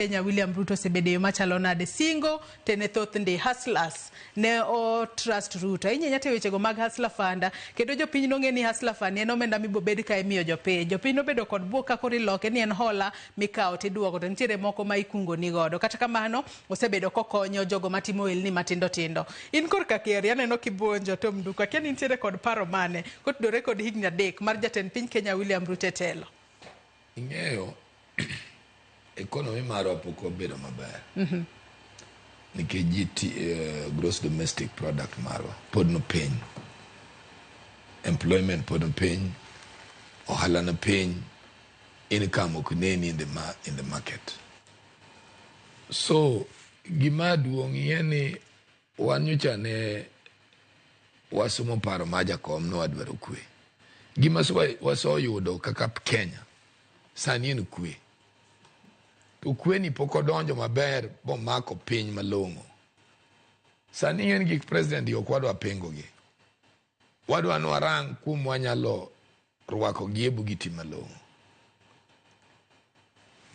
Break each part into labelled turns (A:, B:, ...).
A: Kenya William Ruto osebedo e yo machalo nade? Singo to ne thoth ndi hustlers ne o trust Ruto ahinya ahinya te wechego mag hustler fund kendo jopiny nong'e ni hustler fund en omenda mibobed ka imiyo jopiny. Jopiny nobedo kod bwok ka koro iloke ni en hola mikawo tiduoko to nitiere moko ma ikungoni godo. Kata kamano osebedo kokonyo jogo matimo ohelni matindo tindo. In korka Keri aneno kibuonjo Tom Nduku akia ni nitiere kod paro mane kotudore kod higni adek mar jatend piny Kenya William Ruto e telo? Ing'eyo
B: Economy marwa pok obedo maber. Mhm. Nikech GT, uh, eh, gross domestic product marwa pod no piny. Employment pod no piny. Ohala no piny. Income ok neni in the, ma in the market. So, gima duong' ye ni wan nyocha ne wasomo paro ma jakom ne wadwaro kwe. Gima wasoyudo kaka Kenya Sani en kwe. To kweni pok odonjo maber bomako piny malong'o. Sani ng'en gik president ok wadwa pengogi. Wadwa ni warang kuom wanyalo rwako gi e bugiti malong'o.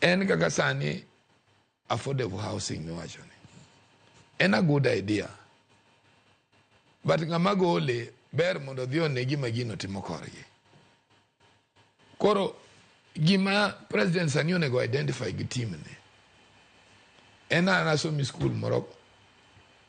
B: En kaka sani Affordable housing miwacho ni. En a good idea. But ng'ama gole ber mondo odhi one gima gino timo korgi. Koro gima president sani onego identify gi team ni en an asomi skul moro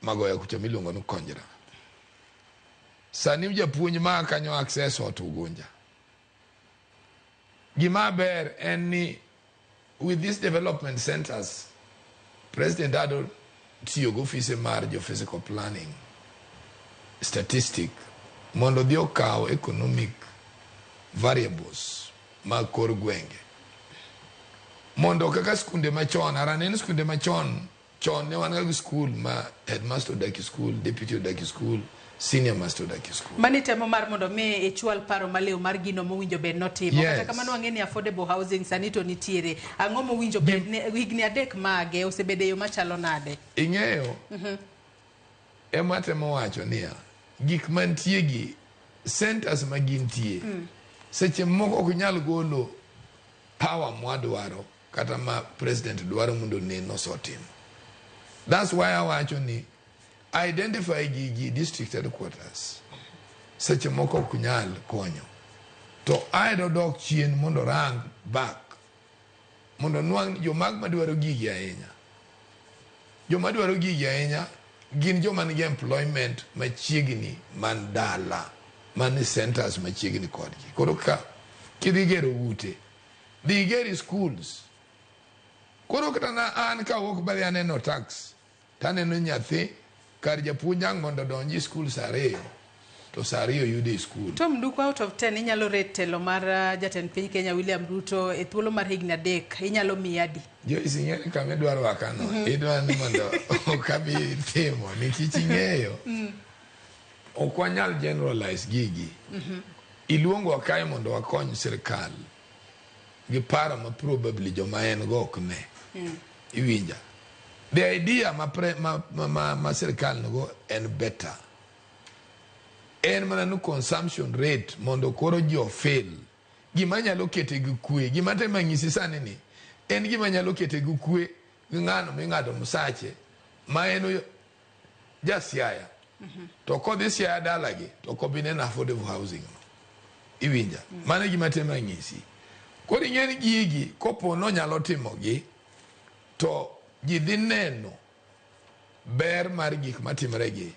B: magoya kucha miluongo ni konjra sani japuonj ma kanyo access ot ugunja gima ber en ni With these development centers, President Ado tiyo gi ofise mar jo physical planning statistic mondo odhi okaw economic variables mag kor gwenge mondo kaka skunde machon ara ne en skunde machon Chon ne wan ga gi skul ma headmaster odak e skul, deputy odak e skul, senior master odak e skul. Mani temo mar mondo mi
A: ichwal paro maliw mar gino mowinjo bed notimo. Yes. Kata kamano wang'e ni affordable housing sani to nitiere. Ang'o mowinjo bed ni higni adek mage osebedo e yo machalo nade? Ing'eyo,
B: ema atemo wacho niya, gik mantie gi centers ma gintie, seche moko ok nyal golo power mwadwaro kata ma president dwaro mondo onen osetimo. That's why awacho ni identify gi gi district headquarters seche moko ok nyal konyo to aedo dok chien mondo rang back mondo nwang' jomag madwaro gigi ahinya joma dwaro gigi ahinya gin joma nigi employment machiegni man dala man centers machiegni kodgi koro ka kidhi gero ute dhi igeri schools. Koro kata na an ka awuok bali aneno tax to aneno nyathi kar japuonj ang' mondo odonji skul saa ariyo to saa ariyo yudo e skul. Tom Nduku, out of 10
A: inyalo rate telo mar uh, jatend piny Kenya William Ruto e thuolo mar higni adek inyalo miye adi? Joyce ing'eyo ni kama
B: idwa rwakano idwa ni mondo okabi timo nikech ing'eyo Ok wanyal generalize gigi. Iluongowa kae mondo wakony sirkal gi paro ma probably joma en go ok ne. Iwinja. The idea ma, pre, ma, ma, ma, ma sirkal nigo en better. En mana ni consumption rate mondo koro ji ofil. Gima nyalo kete gi kwe. Gima tema nyisi sani ni en gima nyalo kete gi kwe gi ng'ano ming'ado msache ma en oyo- Ja Siaya. Mm -hmm. To kodhi Siaya dalagi to kobi neno affordable housing no. Iwinja. Mm -hmm. Mane gima tema ng'isi. Koro ing'e ni gigi kopo nonyalo timogi to ji dhi neno ber mar gik matimregi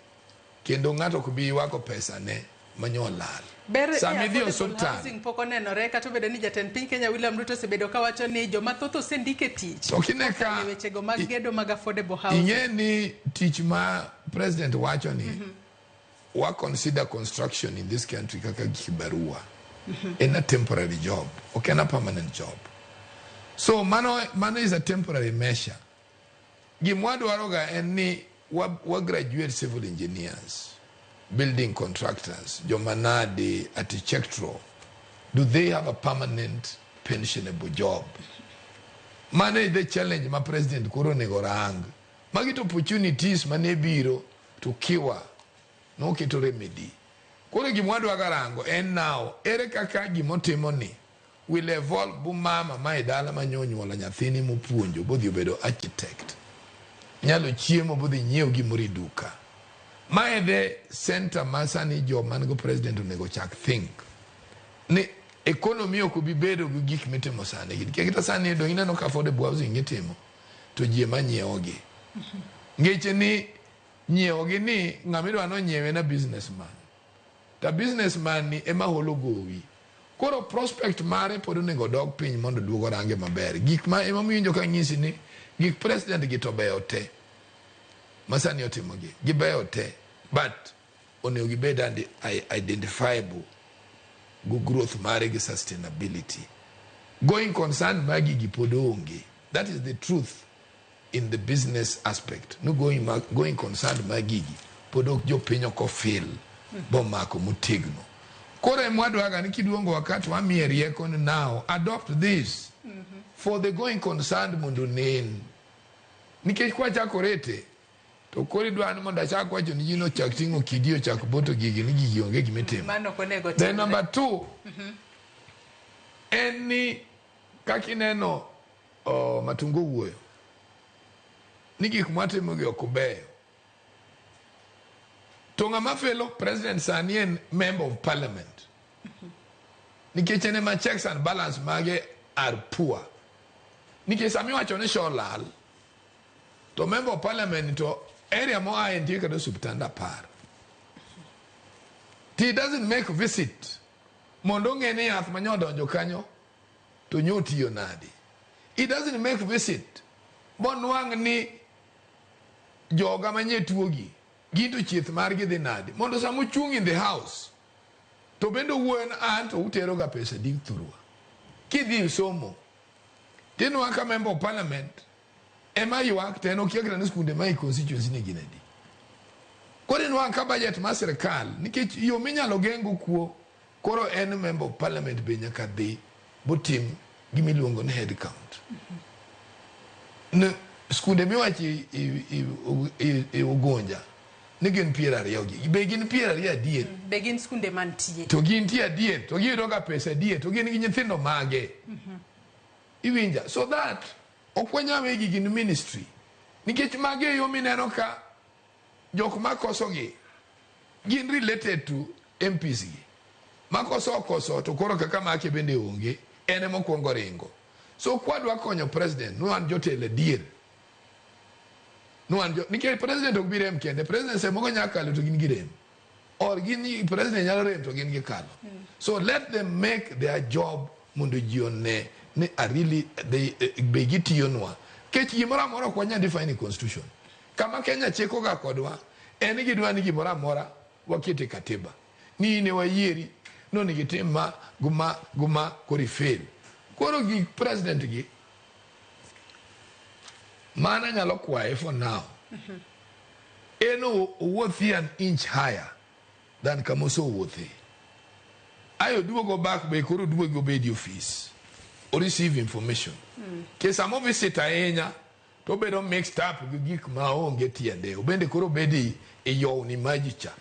B: kendo ng'ato ok bi ywago pesa ne manyo olal. Ber ni Sama idhi
A: affordable osiptal, housing pok onenore kata obedo ni jatend piny Kenya William Ruto osebedo ka wacho ni joma thoth osendik e tich To kine ka- kokalo e wechego
B: mag i- gedo
A: mag affordable housing. ing'e ni tich
B: ma president wacho ni wa consider construction in this country kaka kibarua en a temporary job ok en a permanent job so mano, mano is a temporary measure Gimwa dwaro ga en ni wa, wa graduate civil engineers, building contractors, jomanadi, architectural, do they have a permanent pensionable job? Mano e the challenge ma president koro onego rang. Magi to opportunities mane biro to kiwa noketo remedy. Koro gimwa dwa garango en now ere kaka gimotimo ni Will evolve bu mama ma e dala ma nyo nyuola nyathini mopuonjo bodhi obedo architect. Nyalo chiemo bodhi nyiew gimoro e duka. Ma e the center ma sani jo man go president onego chak think. Ni economy ok obi bedo gi gik mitimo sani gi. Kekita sani do ineno ka affordable housing itimo to ji ema nyiewogi. Ngeche ni nyiewogi ni ng'ama idwa nonyiewe na businessman. Ta business man ni ema holo gowi. Koro prospect mare pod onego odog piny mondo duog orange maber. Gik ma ema miwinjo ka ng'isi ni gik president gi to beyo te. Masani otimo gi. Gibeyo te. But onego gibed identifiable gu growth mare gi sustainability. Going concern magi gi pod onge. That is the truth. in the business aspect no going, ma, going concerned ma gigi pod ok jopiny ok ofil bomako motegno koro em wadwaga ni kiduongo wakati wamiye rieko ni now adopt this for the going concerned mondo onen nikech kwachako rete to koro idwa ni mondo achak wacho ni ji nochak ting'o kidi ochak boto gigi ni gigi onge gimitimo Mano ok onego then timre.
A: number two
B: en ni kaka ineno Oh, Matungu owuoyo ni gik mwatimogi ok beyo. To ng'ama felo president sani en member of parliament. Nikech en ema checks and balance mage are poor. Nikech sami iwacho ni show lal to member of parliament to area moa e nitie kata osuptand apar. He doesn't make visit mondo ong'e ni yath manyodonjo kanyo To nyo otiyo nadi? It doesn't make visit monwang' ni joga manye tuo gi ginto chieth margi dhi nadi mondo sama ochung' in the house to bende owuoyo ni an to utero ga pesa di thurwa kidhi somo tinwa ka member of parliament ema ywak to en okia kata ni skunde ma e constituency ni gin adi koro inwa ka budget ma sirkal nikech yo minyalo gengo kuo Koro en member of parliament be nyaka dhi botim gima iluongo ni head count. Ne skunde miwacho i- i- i- u- i- i Ugunja ni gin piero ariyo gi be gin piero ariyo adier Be gin skunde
A: mantie? to gin tie adier
B: to giyudo ga pesa adier to gin gi nyithindo mage iwinja so that ok wanyawegi gin ministry nikech mage e yo mineno ka Jok makoso gi gin related to MPs gi. Makoso okoso to koro kaka make bende onge en ema okuongo ringo. So kwadwa konyo president ni wan jotelo adier. Ni wan jo nikech president ok bi rem kende. President seche moko nyalo kalo to gin girem. Or gin president nyalo rem to gin gikalo. So let them make their job mondo ji one ni are really they, be gitiyonwa. Kech gimoro amora ok wanyal define e constitution. Kama Kenya chikoga kodwa en gidwa ni gimoro amora waket e Katiba ni in e wayieri ni onego itim ma gi ma gi ma koro ifail. Koro gik President gi mano anyalo kwaye for now en o- owuothi an inch higher than kama osewuothe. Ayo duogo back be koro duogi obedi ofis o receive information. Ke sama o visit ahinya To obedo mixed up gi gik ma onge tiende. Obende koro obedo i- i yowni maji cha.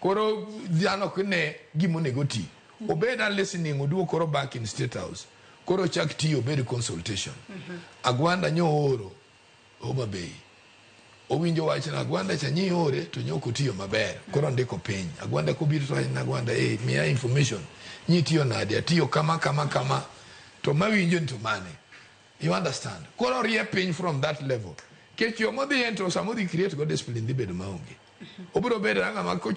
B: Koro dhano ok ne gima onego oti. Obed a listening oduog koro back in state house. Koro ochak tiyo obed consultation. Agwanda nyo ooro Homa Bay. Owinjo wach na Agwanda cha nyi ore to nyok otiyo maber. Koro ndiko piny. Agwanda kobiro to wachna Agwanda eh miya information. Nyi tiyo nade? Atiyo kama kama kama. To mawinjo ni to mane? You understand? Koro orie piny from that level. Kech yo modhi ento sama odhi create go discipline dhi bedo maonge. Obiro bedo ang'ama kocho